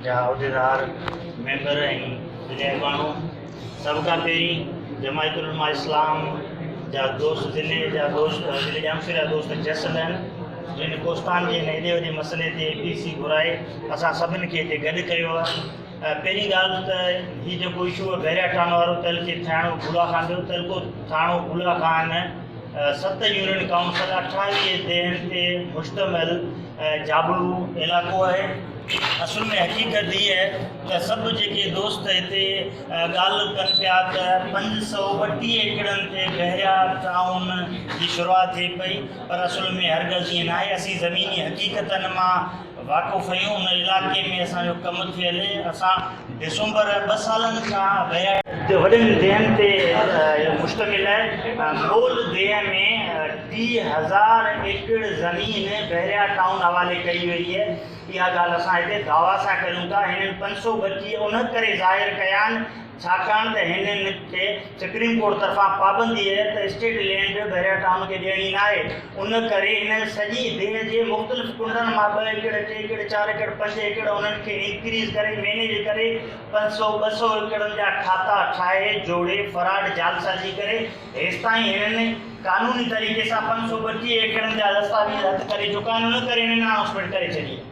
جا عهديدار، ميمبر ۽ ٻيا اڳواڻو، سڀ کان پهرين جماعت علماء اسلام جا دوست دل جا دوست دل ڄامشوري جا دوست جس لن جن ڪوستان جي هن ايڏي وڏي مسئلي تي پي سي گهرائي اسان سڀن کي هتي گڏ ڪيو آهي پهرين ڳالهه ته هي جيڪو اشو آهي بحريا ٽانو وارو تل کي ٿاڻو گولا خان جو تل کو ٿاڻو گولا خان ست يونين ڪائونسل اٺاويهه ديهن تي مشتمل جابلو علائقو آهي. اصل ۾ حقيقت هيء آهي ته سڀ جيڪي دوست هتي ڳالهه ڪن پيا ته پنج سؤ ٻٽيهه ايڪڙن تي بحريا ٽائون جي شروعات ٿئي پئي پر اصل ۾ هرگز ائين ناهي. اسين زميني حقيقتن مان واقف آهيون. ان علائقي ۾ اسان جو ڪم ٿيل. اسان. ڊسمبر ٻه سالن کان ويا. تي وڏن ديهن تي مشتمل ٻول ديهه ۾ ٽيهه هزار ايڪڙ زمين بحريا ٽائون حوالي ڪئي وئي. اها ڳالهه اسان هتي دعويٰ سان ڪريون ٿا. هنن پنج سؤ ٻٽيهه ان ڪري ظاهر ڪيا آهن ڇاڪاڻ ته هنن کي سپريم ڪورٽ طرفان پابندي اهي ته اسٽيٽ لينڊ بحريا ٽائون کي ڏيڻي ناهي، ان ڪري هن سڄي ديهه جي مختلف ڪنڊن مان ٻه ايڪڙ، ٽي ايڪڙ، چار ايڪڙ، پنج ايڪڙ انهن کي انڪريز ڪري مينيج ڪري پنج سؤ ٻه سؤ ايڪڙن جا کاتا ٺاهي جوڙي فراڊ جعلسازي ڪري هيستائين هنن قانوني طريقي سان پنج سؤ ٻٽيهه ايڪڙن جا دستاويز هٿ ڪري چڪا آهن ان ڪري هنن انائونسمينٽ ڪري ڇڏي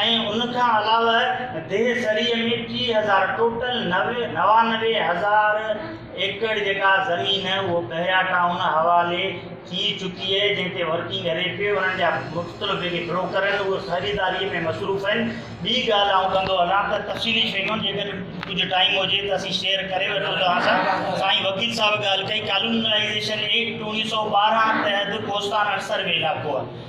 ۽ ان کان علاوه ديهه سريء ۾ ٽي هزار ٽوٽل نوي نوانوي هزار ايڪڙ جيڪا زمين اهو بحريا ٽائون حوالي ٿي چڪي اهي جنهن تي ورڪنگ اري پي انهن جا مختلف جيڪي بروڪر اهن اهي خريداري ۾ مصروف اهن ٻي ڳالهه آئون ڪندو هلان ته تفصيلي شيون جيڪڏهن ڪجهه ٽائيم هجي ته اسين شيئر ڪري وٺون توهان سان سائين وڪيل صاحب ڳالهه ڪئي ڪالونلائيزيشن ايڪٽ اوڻيهه سؤ ٻارهن تحت ڪوستان اڻ سروي علائقو آهي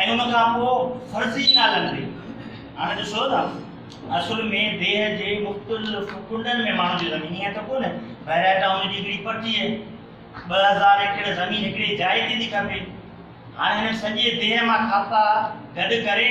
۽ ان کان پوء فرضي نالن تي. هاڻ ڏسو ته اصل ۾ ديهه جي مختلف ڪنڊن ۾ ماڻهن جي زمين هئي ته ڪونه، بهرئي ٽائون جي هڪڙي پٽيء، ٻه هزار ايڪڙ زمين هڪڙي جاء تي ٿي کپي. هاڻ هن سڄي ديهه مان کاتا گڏ ڪري،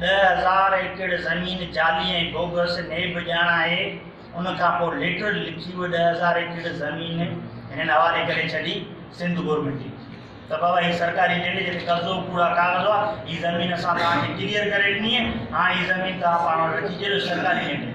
ڏهه هزار ايڪڙ زمين جعلي ۽ بوگس نيب ڄاڻ آهي، ان کان پوء ليٽر لکي اهي ڏهه هزار ايڪڙ زمين هنن حوالي ڪري ڇڏي، سنڌ گورنمينٽ جي لکي ته بابا هي سرڪاري لينڊ جي تي قبضو ڪوڙا ڪاغذ هئا، هي زمين اسان توهان کي ڪليئر ڪري ڏني آهي، هاڻ هي زمين توهان پاڻ وٽ رکي ڇڏيو، سرڪاري لينڊ آهي.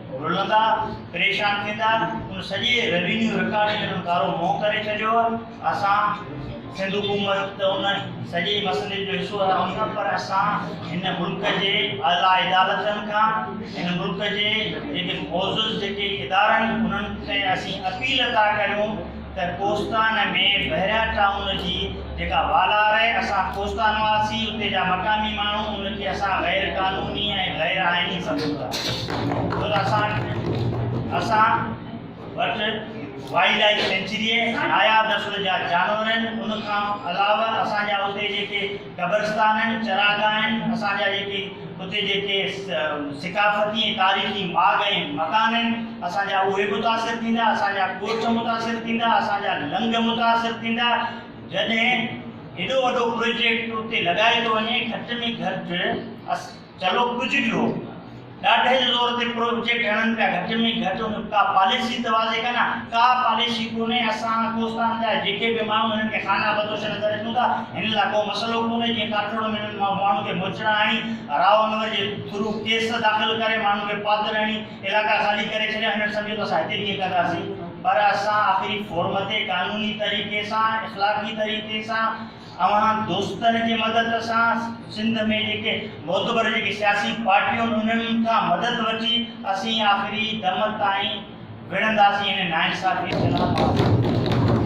رلندا، پريشان ٿيندا، ان سڄي روينيو رڪارڊ کي انهن ڪارو منهن ڪري ڇڏيو آ، اسان سنڌ حڪومت ته ان سڄي مسئلي جو حصو آهيون نه پر اسان هن ملڪ جي اعليٰ عدالتن کان هن ملڪ جي جيڪي معزز جيڪي ادارا آهن انهن کي اسين اپيل ٿا ڪريون ته ڪوستان ۾ بحريا ٽائون جي جيڪا والا آهي، اسان ڪوستان واسي، اتي جا مقامي ماڻهو ان کي اسان غير قانوني ۽ غير آئيني سمجهون ٿا. ڇو ته اسان اسان وٽ وائلڊ لائيف سينچري، ناياب نسل جا جانور، ان کان علاوه اسان جا اتي جيڪي قبرستان آهن، چراگاهه آهن، اسان جا جيڪي اتي جيڪي ثقافتي ۽ تاريخي ماڳ ۽ مڪان آهن، اسان جا اهي متاثر ٿيندا، اسان جا ڳوٺ متاثر ٿيندا، اسان جا لنگ متاثر ٿيندا، جڏهن ايڏو وڏو پروجيڪٽ اتي لڳائي ٿو وڃي، گهٽ ۾ گهٽ چلو ڪجهه به هو، ڏاڍي جي زور تي پروجيڪٽ هڻن پيا، گهٽ ۾ گهٽ ان ڪا پاليسي ته واضح ڪن ها. ڪا پاليسي ڪونهي، اسان ڪوستان جا جيڪي به ماڻهو هنن کي خانه بدوش نظر اچون ٿا، هنن لاء ڪو مسئلو ڪونهي، جيئن ڪاٺڙو ۾ هنن ماڻهن کي موچڙا هڻي، راء انور جي ٿرو ڪيس داخل ڪري، ماڻهن کي پادر هڻي، علائقا خالي ڪري ڇڏيا، هنن سمجهيو ته اسان هتي ڪيئن ڪنداسين، پر اسان آخري فورم تي قانوني طريقي سان، اخلاقي طريقي سان، اوهان دوستن جي مدد سان سنڌ ۾ جيڪي معتبر جيڪي سياسي پارٽيون انهن کان مدد وٺي اسين آخري دم تائين وڙهنداسين هن ناانصافي خلاف آواز ڪنداسين.